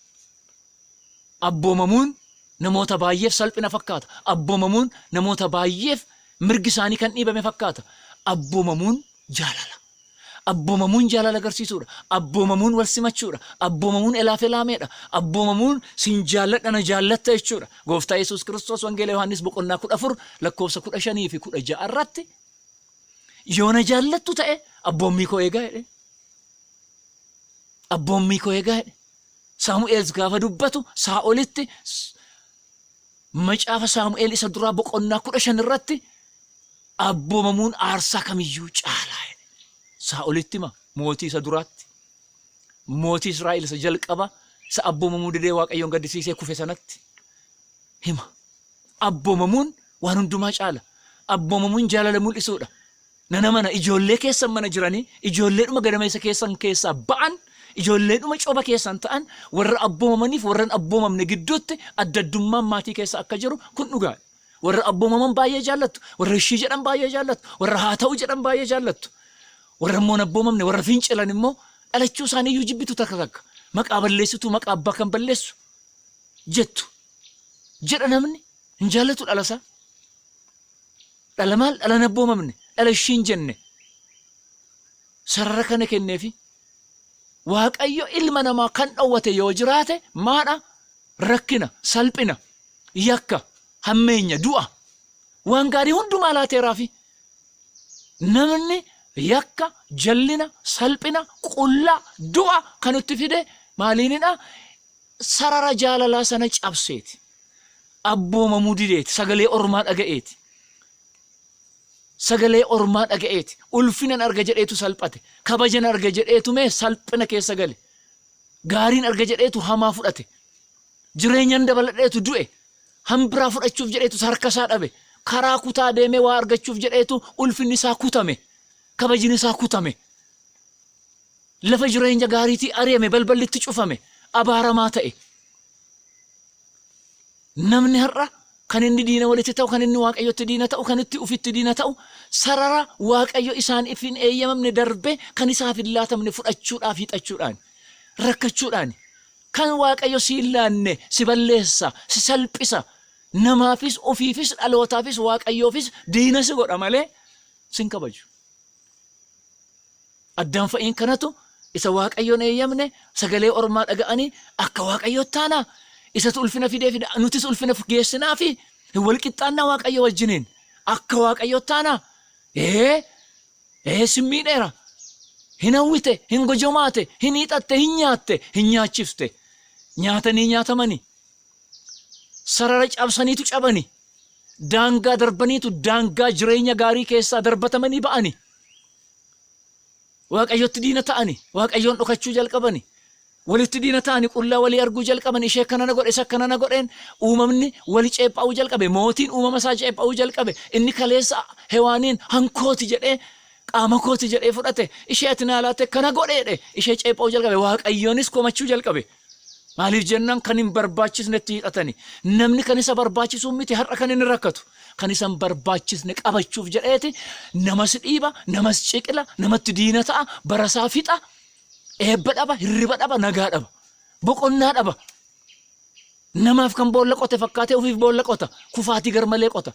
Abboomamuun namoota baay'eef salphina fakkaata. Abboomamuun namoota baay'eef mirgi isaanii kan dhiibame fakkaata. Abboomamuun jaalala. Abboomamuun jaalala agarsiisuudha. Abboomamuun wal simachuudha. Abboomamuun elaafelaameedha. Abboomamuun sin jaalladha na jaallatta jechuudha. Gooftaa Yesuus Kiristoos Wangeela Yohaannis boqonnaa 14 lakkoofsa 15 fi 16 irratti yoo na jaallattu ta'e abboommii koo eegaa jedheen. Abboommii koo eegaa jedhe. Saamu'eels gaafa dubbatu Saa'olitti Macaafa Saamu'eel isa duraa boqonnaa kudha shan irratti abboomamuun aarsaa kamiyyuu caalaa jedhe. Saa'olitti ma mootii isa duraatti mootii Israa'el isa jalqaba isa abboomamuu didee Waaqayyoon gaddisiisee kufe sanatti hima. Abboomamuun waan hundumaa caala. Abboomamuun jaalala mul'isuudha. Nan amana, ijoollee keessan mana jiranii, ijoolleedhuma gadameessa keessan keessaa ba'an, ijoolleedhuma coba keessan ta'an, warra abboomamaniif warra hin abboomamne gidduutti adda addummaan maatii keessa akka jiru kun dhugaa dha. Warra abboomaman baay'ee jaallattu, warra ishii jedhan baay'ee jaallattu, warra haa ta'u jedhan baay'ee jaallattu. Warra immoo hin abboomamne, warra fincilan immoo dhalachuu isaanii iyyuu jibbitu takka takka. Maqaa balleessitu, maqaa abbaa kan balleessu jettu. Jedha namni hin jaallatu dhalasaa. Dhala maal dhala hin abboomamne dhala ishii hin jenne sarara kana kenneefi waaqayyo ilma namaa kan dhowwate yoo jiraate maadha rakkina salphina yakka hammeenya du'a waan gaarii hundumaa laateeraafi namni yakka jallina salphina qullaa du'a kan itti fide maaliinidha sarara jaalalaa sana cabseeti. abboomamuu dideeti, sagalee ormaa dhaga'eeti. Sagalee ormaa dhaga'eeti. Ulfinan arga jedheetu salphate. Kabajan arga jedheetu mee salphina keessa gale. Gaariin arga jedheetu hamaa fudhate. Jireenyan dabaladheetu du'e. Hambiraa fudhachuuf jedheetu harka isaa dhabe. Karaa kutaa deemee waa argachuuf jedheetu ulfinni isaa kutame. Kabajni isaa kutame. Lafa jireenya gaariitii ari'ame balballitti cufame. Abaaramaa ta'e. Namni har'a kan inni diina walitti ta'u, kan inni Waaqayyotti diina ta'u, kan itti ufitti diina ta'u, sarara Waaqayyo isaaniif hin eeyyamamne darbee kan isaaf hin laatamne fudhachuudhaaf hiixachuudhaani, rakkachuudhaani. Kan Waaqayyo si hin laanne si balleessa, si salphisa, namaafis, ofiifis, dhalootaafis, Waaqayyoofis diina si godha malee si hin kabaju. Addaam fa'iin kanatu isa Waaqayyoon eeyyamne sagalee ormaa dhaga'anii akka Waaqayyootti taanaa? Isatu ulfina fideefi nutis ulfina geessinaafi? Hin wal qixxaannaa Waaqayyoo wajjiniin? Akka Waaqayyootti taanaa? Ee, ee sin miidheera. Hin hawwite, hin gojomaate, hin hiixatte, hin nyaatte, hin nyaachifte. Nyaatanii nyaatamani. Sarara cabsaniitu cabani. daangaa darbaniitu daangaa jireenya gaarii keessaa darbatamanii ba'ani. Waaqayyotti diina ta'ani. Waaqayyoon dhokachuu jalqabani. Walitti diina ta'ani qullaa walii arguu jalqaban ishee akkana na godhe isa akkana na godheen uumamni wali ceepha'uu jalqabe mootiin uumama isaa ceepha'uu jalqabe inni kaleessa hewaaniin hankooti jedhee qaama kooti jedhee fudhate ishee ati naa laatte kana godheedhe ishee ceepha'uu jalqabe waaqayyoonis komachuu jalqabe. Maaliif jennaan kan hin barbaachisnetti hidhatani. Namni kan isa barbaachisuun miti har'a kan inni rakkatu. Kan isa hin barbaachisne qabachuuf jedheeti namas dhiiba, namas ciqila, namatti diina ta'a, barasaa fixa, eebba dhaba, hirriba dhaba, nagaa dhaba, boqonnaa dhaba. Namaaf kan boolla qote fakkaatee ofiif boolla qota, kufaatii garmalee qota.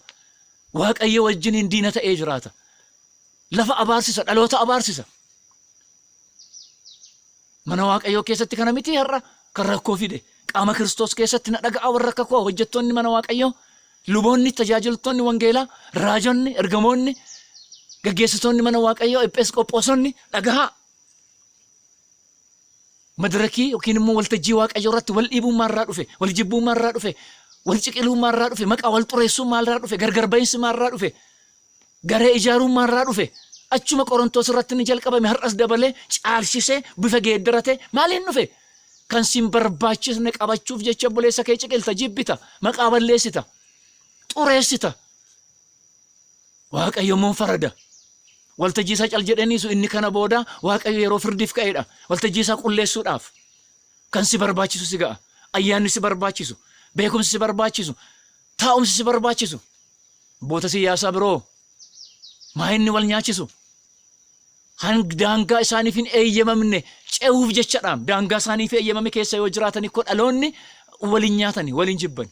Waaqayyo wajjiniin diina ta'ee jiraata. Lafa abaarsisa, dhaloota abaarsisa. Mana Waaqayyoo keessatti kana mitii har'a kan rakkoo fide. Qaama Kiristoos keessatti na dhaga'aa warra akka koo hojjettoonni mana Waaqayyoo, luboonni, tajaajiltoonni wangeelaa, raajonni, ergamoonni, gaggeessitoonni mana Waaqayyoo, epheesqophoosonni dhagahaa. Madirakii yookiin immoo waltajjii Waaqayyoo irratti wal dhiibuummaa irraa dhufe, wal jibbuummaa irraa dhufe, wal ciqiluummaa irraa dhufe, maqaa wal xureessuummaa irraa dhufe, gargar ba'iinsumaa irraa dhufe, Garee ijaaruummaa irraa dhufe achuma Qorontoos irratti inni jalqabame har'as dabalee caalsisee bifa geeddaratee maaliin dhufe? Kan sin barbaachisne qabachuuf jecha obboleessa kee ciqilta, jibbita, maqaa balleessita, xureessita. Waaqayyo immoo farada. Waltajjii isaa cal jedhee dhiisu inni kana booda Waaqayyo yeroo firdiif ka'eedha. Waltajjii isaa qulleessuudhaaf kan si barbaachisu si ga'a. Ayyaanni si barbaachisu, beekumsi si barbaachisu, taa'umsi si barbaachisu. Humboota siyyaasaa biroo maa inni wal nyaachisu? Kan daangaa isaaniif hin eeyyamamne ce'uuf jechadhaam. Daangaa isaaniif eeyyamame keessa yoo jiraatani koo dhaloonni wal hin nyaatani, wal hin jibbani.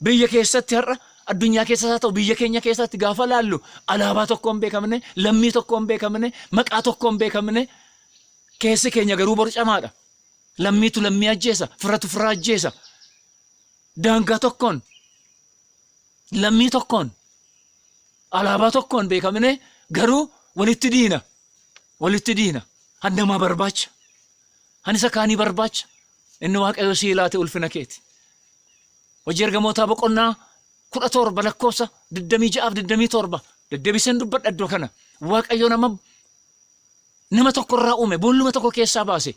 Biyya keessatti har'a addunyaa keessas haa ta'u biyya keenya keessatti gaafa laallu alaabaa tokko hin beekamne, lammii tokko hin beekamne, maqaa tokko hin beekamne keessi keenya garuu borcamaadha. Lammiitu lammii ajjeesa, firatu fira ajjeesa. Daangaa tokkoon lammii tokkoon alaabaa tokkoon beekamne garuu walitti diina walitti diina kan namaa barbaacha kan isa kaanii barbaacha inni waaqayyo sii laate ulfina keeti hojii ergamootaa boqonnaa kudha torba lakkoofsa digdamii ja'aaf digdamii torba deddeebiseen dubbadha iddoo kana waaqayyo nama nama tokko irraa uume boolluma tokko keessaa baase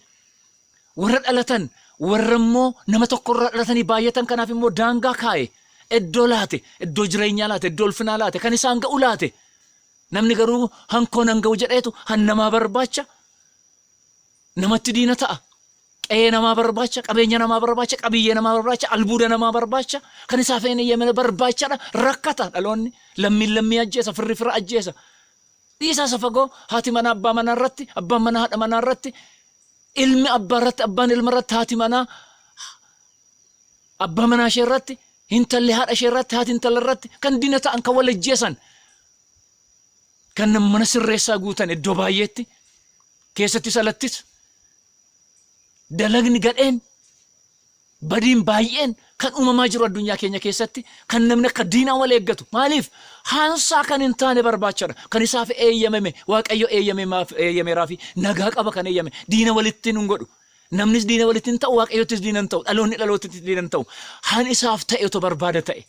Warra dhalatan, warra immoo nama tokko irraa dhalatanii baay'atan kanaaf immoo daangaa kaa'e, iddoo laate, iddoo jireenyaa laate, iddoo ulfinaa laate, kan isaan ga'u laate. Namni garuu hankoo nan ga'u jedheetu han namaa barbaacha namatti diina ta'a. Qe'ee namaa barbaacha, qabeenya namaa barbaacha, qabiyyee namaa barbaacha, albuuda namaa barbaacha, kan isaaf hin eeyyamne barbaachadha, rakkata dhaloonni. Lammiin lammii ajjeesa, firri fira ajjeesa. Dhiisaa isa fagoo haati manaa abbaa manaa irratti, abbaan manaa haadha manaa irratti, ilmi abbaa irratti, abbaan ilma irratti, haati manaa abbaa manaa ishee irratti, hintalli haadha ishee irratti, haati intala irratti kan diina ta'an, kan wal ajjeesan, kan nam- mana sirreessaa guutan iddoo baay'eetti keessattis alattis dalagni gadheen Badiin baay'een kan uumamaa jiru addunyaa keenya keessatti kan namni akka diinaa wal eeggatu maaliif? Haansaa kan hin taane barbaachadha. Kan isaaf eeyyamame Waaqayyo eeyyameeraafi nagaa qaba kan eeyyame. Diina walitti nun godhu. Namnis diina walitti hin ta'u, Waaqayyottis diina hin ta'u, dhaloonni dhalootatti diina hin ta'u. Han isaaf ta'e otoo barbaada ta'e.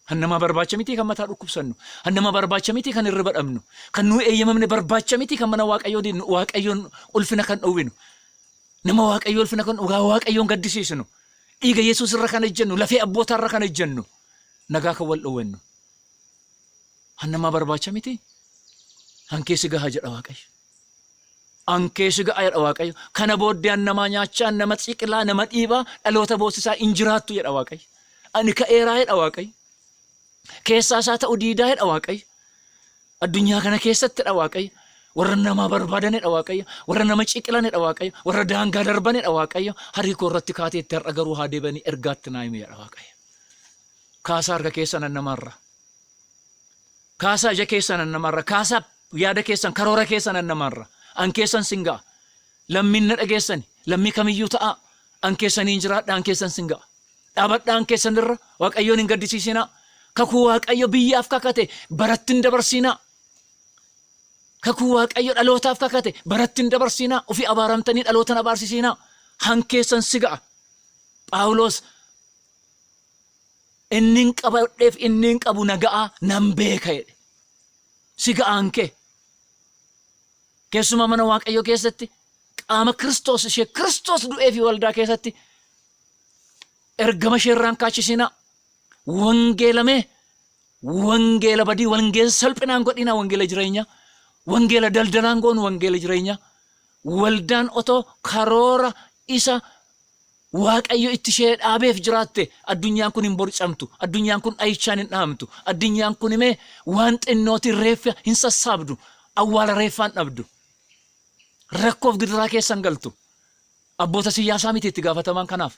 Han namaa barbaacha miti kan mataa dhukkubsannu. Han namaa barbaacha miti kan hirriba dhabnu. Kan nuu eeyyamamne barbaacha miti kan mana Waaqayyoo diignu, Waaqayyoon ulfina kan dhowwinu. Nama Waaqayyoo ulfina kan dhugaa Waaqayyoon gaddisiisnu, dhiiga Yesuus irra kan ejjennu, lafee abbootaa irra kan ejjennu, nagaa kan wal dhowwennu. Hannamaa barbaacha miti. Hankeessi gahaa jedha Waaqayyo. Hankeessi gahaa jedha Waaqayyo. Kana booddee hannamaa nyaachaa, nama xiqilaa, nama dhiibaa, dhaloota boossisaa hin jiraattu jedha Waaqayyo. Ani ka'eeraa jedha Waaqayyo. keessaa isaa ta'u diidaa jedha Waaqayyo. Addunyaa kana keessattidha Waaqayyo. Warra namaa barbaadanidha Waaqayyo. Warra nama ciqilanidha Waaqayyo. Warra daangaa darbanidha Waaqayyo. Harii koo irratti kaateetti har'a garuu haa deebanii ergaatti naa himi jedha Waaqayyo. Kaasaa harka keessa nan namarra. Kaasaa ija keessa nan namarra. Kaasaa yaada keessan karoora keessa nan namarra. An keessan sin ga'a. Lammiin na dhageessani. Lammii kamiyyuu ta'a. An keessaniin jiraadha. An keessan sin ga'a. Dhaabadhaan keessan irra Waaqayyoon hin gaddisiisinaa. Kakuu Waaqayyo biyyaaf kakate baratti hin dabarsiinaa. Kakuu Waaqayyo dhalootaaf kakate baratti hin dabarsiinaa. Ofii abaaramtanii dhalootan abaarsisiinaa. Han keessan si ga'a. Phaawulos inni hin qabadheef inni hin qabu na ga'a nan beeka jedhe. Si ga'aan kee. Keessumaa mana Waaqayyoo keessatti qaama Kiristoos ishee Kiristoos du'ee fi waldaa keessatti ergama ishee irraan kaachisinaa wangeela mee wangeela badii wangeela salphinaan godhinaa wangeela jireenya wangeela daldalaan goonu wangeela jireenya waldaan otoo karoora isa waaqayyo itti ishee dhaabeef jiraatte addunyaan kun hin borcamtu addunyaan kun dhahichaan hin dhahamtu addunyaan kun imee waan xinnootiin reeffa hin sassaabdu awwaala reeffaan dhabdu rakkoof gidiraa keessan galtu Abboota siyyaasaa miti itti gaafatamaan kanaaf.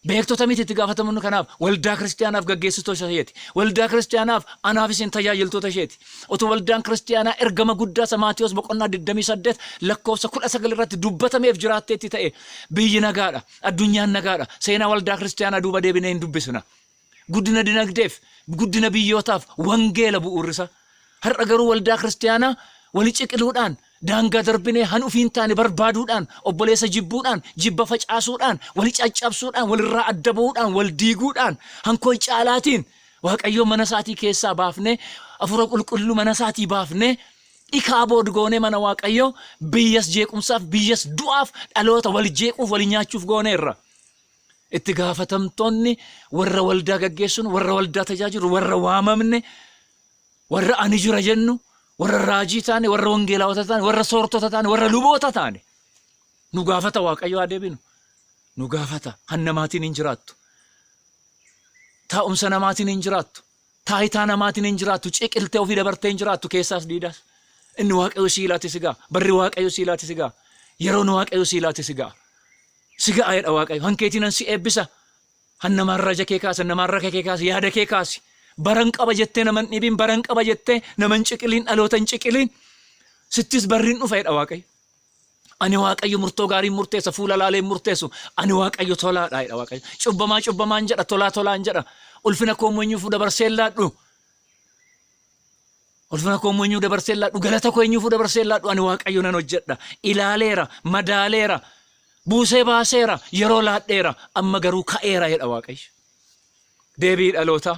Beektota miti itti gaafatamoonni kanaaf. Waldaa Kiristiyaanaaf gaggeessitoota isheeti. Waldaa Kiristiyaanaaf anaaf isin tajaajiltoota isheeti. Otoo waldaan Kiristiyaanaa ergama guddaa isa Maatewos boqonnaa 28 lakkoofsa 19 irratti dubbatameef jiraatteetti ta'ee, biyyi nagaa dha, addunyaan nagaa dha, seenaa waldaa Kiristiyaanaa duuba deebinee hin dubbisina. Guddina dinagdeef, guddina biyyootaaf wangeela bu'uurrisaa. Har'a garuu waldaa kiristiyaanaa wali ciqiluudhaan, daangaa darbinee han ufii hin taane barbaaduudhaan, obboleessa jibbuudhaan, jibba facaasuudhaan, wali caccabsuudhaan, walirraa adda ba'uudhaan, wal diiguudhaan, han koi caalaatiin Waaqayyoon mana isaatii keessaa baafnee, Hafuura Qulqulluu mana isaatii baafnee, ikaabod goonee mana Waaqayyoo biyyas jeequmsaaf, biyyas du'aaf, dhaloota wal jeequuf, wal nyaachuuf gooneerra. Itti gaafatamtoonni warra waldaa gaggeessun, warra waldaa tajaajilu, warra waamamne, warra ani jira jennu, warra raajii taane, warra wangeelaawota taane, warra soortota taane, warra luboota taane. Nu gaafata Waaqayyo haa deebinu. Nu gaafata. Kan namaatiin hin jiraattu. Taa'umsa namaatiin hin jiraattu. Taayitaa namaatiin hin jiraattu, ciqiltee ofii dabartee hin jiraattu, keessaas diidaas. Inni Waaqayyo sii laate si ga'a. Barri Waaqayyo sii laate si ga'a. Yeroon Waaqayyo sii laate si ga'a. Si ga'a jedha Waaqayyo. Hankeetiinan si eebbisa. Han nama raja kee kaasa, nama harraka kee kaasa, yaada kee kaasi. Baran qaba jettee naman dhibiin, baran qaba jettee naman ciqiliin, dhalootan ciqiliin. Sittis barriin dhufa jedha Waaqayyo. Ani Waaqayyo murtoo gaariin murteessa, fuula laaleen murteessu. Ani Waaqayyo tolaadha jedha Waaqayyo. Cubbamaa cubbamaan jedha, tolaa tolaan jedha. Ulfina koo immoo eenyuufuu dabarsee hin laadhu. Ulfina koo immoo eenyuu dabarsee hin laadhu. Galata koo eenyuufuu dabarsee hin laadhu. Ani Waaqayyo nan hojjedha. Ilaaleera, madaaleera, buusee baaseera, yeroo laadheera. Amma garuu ka'eera jedha Waaqayyo. Deebii dhalootaa.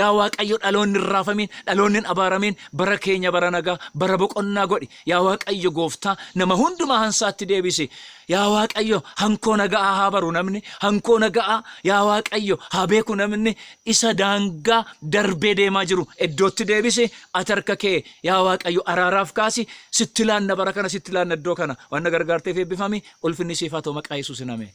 Yaa Waaqayyo dhaloonni hin raafamiin, dhaloonni hin abaaramiin, bara keenya bara nagaa, bara boqonnaa godhi. Yaa Waaqayyo gooftaa, nama hundumaa hansaatti deebisi. Yaa Waaqayyo hankoo naga'aa haa baru namni, hankoo naga'aa yaa Waaqayyo haa beeku namni, isa daangaa darbee deemaa jiru iddootti deebisi, ati harka kee yaa Waaqayyo araaraaf kaasi, sitti laanna bara kana, sitti laanna iddoo kana. Waan na gargaarteef eebbifami, ulfinni siif haa ta'u maqaa Yesuusin ameen.